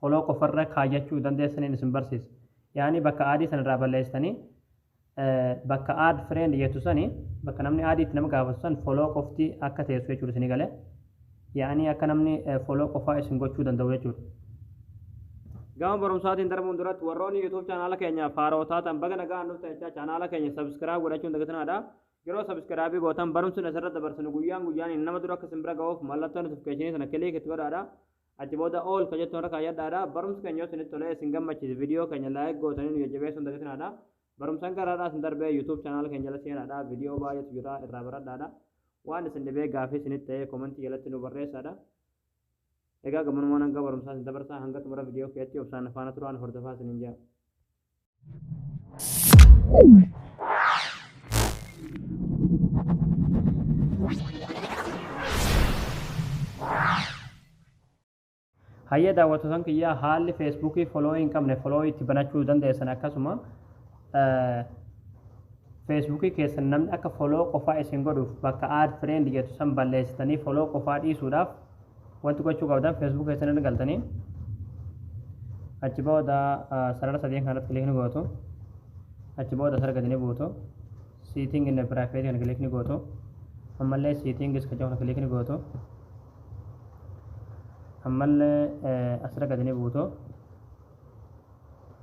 follow qofa irra kaayyachuu dandeessaniin isin barsiisa. Yaani bakka add san irraa balleessitanii bakka add friend jettu sani bakka namni add itti nama gaafatu san follow qofti akka teessu jechuudha isin gale. Yaani akka namni follow qofaa isin gochuu danda'u jechuudha. Gama barumsaatiin darbuun duratti warroonni YouTube chaanaala keenya faaroo taatan baga nagaan dhuftan jechaa chaanaala keenya subscribe godhachuun dagatinaadha. Yeroo subscribe gootan barumsi asirra dabarsinu guyyaan guyyaan nama dura akka isin bira ga'uuf mallattoo notification sana click itti godhaadha. Achi booda all ka jettu irra kaayyadhaadha. Barumsi keenya yoo isinitti tole, isin gammachiise video keenya like gootanii nu jajjabeessuu hin dagatinaadha. Barumsan gara har'aa isin darbee YouTube channel keenya jala seenaadha. Video baay'eetu jira irraa baradhaadha. Waan isin dhibee gaafii isinitti ta'ee comment jalatti nu barreessaadha. Egaa gammanumaan hanga barumsaa isin dabarsaa hanga xumura video keetti obsaan faana turaan hordofaa isiniin jaa. Hayyee daawwattootan kiyyaa haalli feesbuukii foloo hin qabne foloo itti banachuu dandeessan akkasuma feesbuukii keessan namni akka foloo qofaa isin godhuuf bakka aad fireend jettu san balleessitanii foloo qofaa dhiisuudhaaf Wanti gochuu qabdan Facebook keessan irra galtanii achi booda sarara sadeen kanarratti kilik ni gootu. Achi booda sarara gadi ni buutu. Seating in private kan kilik ni gootu. Ammallee settings kan jedhu kilik ni gootu. Ammallee asirra gadi ni buutu.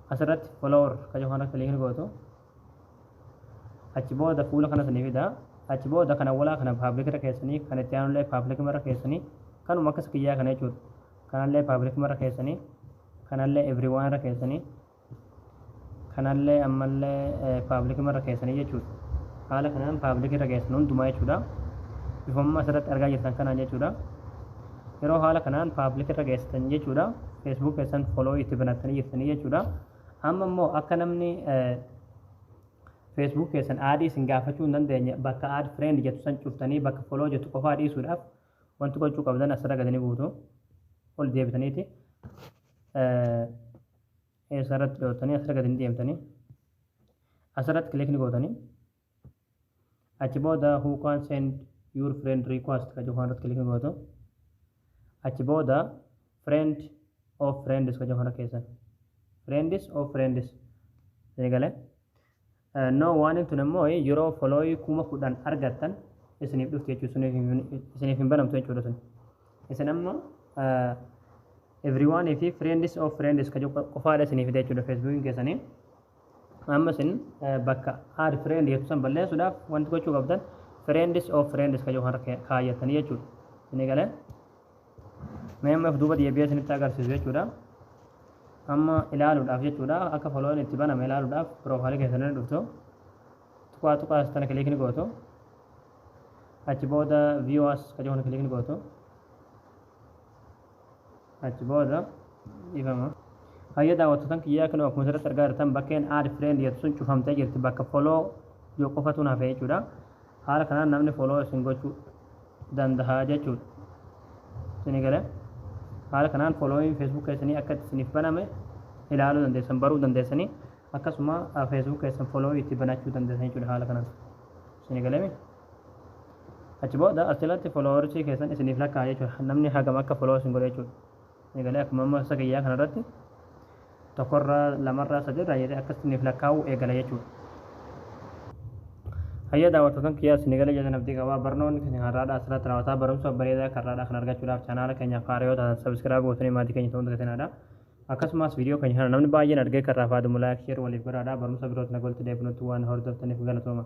Asirratti follower kan jedhu kilik ni gootu. achi booda fuula kana sanii fida achi booda kan awwalaa kana paablik irra keessanii kan itti aanullee paablik irra keessanii kanuma akkas kiyyaa kana jechuudha kanallee paablik irra keessanii kanallee everyone irra keessanii kanallee ammallee paablik irra keessanii jechuudha haala kanaan paablik irra keessan hundumaa jechuudha bifamma asirratti argaa jirtan kanaan jechuudha yeroo haala kanaan paablik irra keessan jechuudha feesbuuk keessan foloo itti banattanii jirtanii jechuudha Amma immoo akka namni Facebook keessan aadii isin gaafachuu hin dandeenye bakka add friend jettu san cuftanii bakka follow jettu qofaa dhiisuudhaaf wanti gochuu qabdan asirra gadi ni buutu. Ol deebitaniiti eessarratti dhootanii asirra gadi ni deemtanii asirratti click ni gootanii. achi booda who can send your friend request ka jechuu irratti kiliki gootu achi booda friend of friends ka jechuu irra keessan friends of friends isinii galee no waan tun immoo yeroo folooyii kuma kudhan argattan isiniif dhufti jechuudha suniif hin- isiniif hin banamtu jechuudha sun isin amma everyone fi friends of friends ka jechuu qofaadha isiniif fida jechuudha feesbuukiin keessanii Amma isin bakka add friend jettu san balleessuudhaaf wanti gochuu qabdan friends of friends kan yookaan kaayyatanii jechuudha. Isin eegalee mee amma duuba deebi'ee isinitti agarsiisu jechuudha. Amma ilaaluudhaaf jechuudha akka following itti baname ilaaluudhaaf proofaalii keessan irra dhuftu tuqaa tuqaa sana kiliik ni gootu. Achi booda view as kan yookaan kiliik ni gootu. achi booda dhifama hayya daawwattotan kiyyaa kan akkuma asirratti argaa jirtan bakkeen aad friend jettu sun cufamtee jirti bakka follow yoo qofatuun hafee jechuudha haala kanaan namni follow isin gochuu danda'a jechuudha isin gale haala kanaan following facebook keessanii akka itti isiniif baname ilaaluu dandeessan baruu dandeessanii akkasuma facebook keessan follow itti banachuu dandeessan jechuudha haala kanaan isin galame Achi booda as jalatti followershii keessan isiniif lakkaa'aa jechuudha. Namni hagam akka follow isin godhe jechuudha. Eegalee akkuma amma isa kiyyaa kanarratti tokkorraa lamarraa sadirraa jedhee akka isiniif lakkaa'u eegala jechuudha. Hayya daawwattootan kiyyaa isin eegale jedhan abdii qabaa barnoonni keenya har'aadhaa asirratti raawwataa barumsa bareedaa akka har'aadhaa kan argachuudhaaf chaanaala keenyaaf haaraa yoo taatan sabiskiraayib gootanii maatii keenya ta'uun dagatinadha. Akkasumas viidiyoo keenya kana namni baay'een argee kan raafaadhu mulaa sheer waliif godhaadha barumsa birootiin walitti deebinutti waan hordoftaniif galatooma.